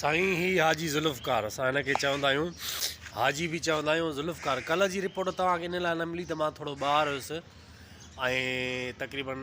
سائين هي حاجي ذوالفقار اسان هن کي چوندا آهيون حاجي به چوندا آهيون ذوالفقار ڪلهه جي رپورٽ توهان کي ان لاء نه ملي ته مان ٿورو ٻاهر هيس ۽ تقريبن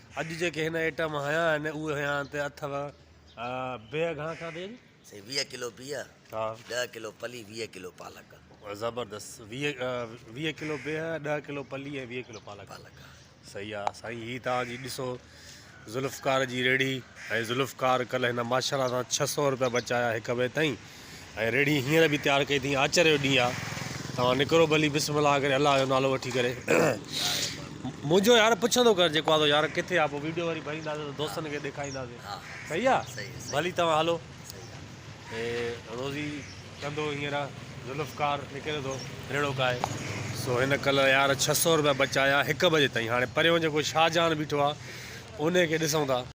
اڄ جيڪي هن ائٽم هنيا آهن اهي هيان تي اٿئو بيهه گهڻا کان ٿي اڄ؟ سائين ويهه ڪلو بيهه ها ڏهه ڪلو پلي ويهه ڪلو پالڪ. زبردست ويهه ويهه ڪلو بيهه ڏهه ڪلو پلي ۽ ويهه ڪلو پالڪ پالڪ ها. صحيح آ سائين هي توهان جي ڏسو ذوالفقار جي ريڙهي ۽ ذوالفقار ڪلهه هن ماشاءالله سان ڇهه سؤ روپيا بچايا هڪ وي تائين. ۽ ريڙهي هينئر به تيار ڪئي اٿئين آچر جو ڏينهن آ توهان نڪرو ڀلي بسم الله ڪري الله جو نالو وٺي ڪري منهنجو يار پڇندو ڪر جيڪو آ سو يار ڪٿي آ پو ويڊيو وري ڀرينداسين ته دوستن کي ڏيکارينداسين صحيح آ ڀلي توهان هلو هي روزي ڪندو هينئر ذوالفقار نڪري ٿو ريڙهو ڪائي سو هن ڪل يار ڇهه سؤ روپيا بچايا هڪ بجي تائين هاڻي پريون جيڪو شاهجهان بيٺو آ ان کي ڏسون ٿا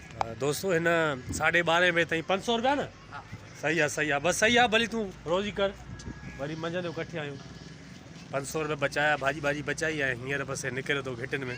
دوستو هن ساڍي ٻارهين بجي تائين پنج سو روپيا نه صحيح آ صحيح آ بس صحيح آ ڀلي تون روزي ڪر وري منجهند جو ڪٺي آيون پنج سو روپيا بچايا ڀاڄي ڀاڄي بچائي ۽ هينئر بس نڪريو تو گهٽين ۾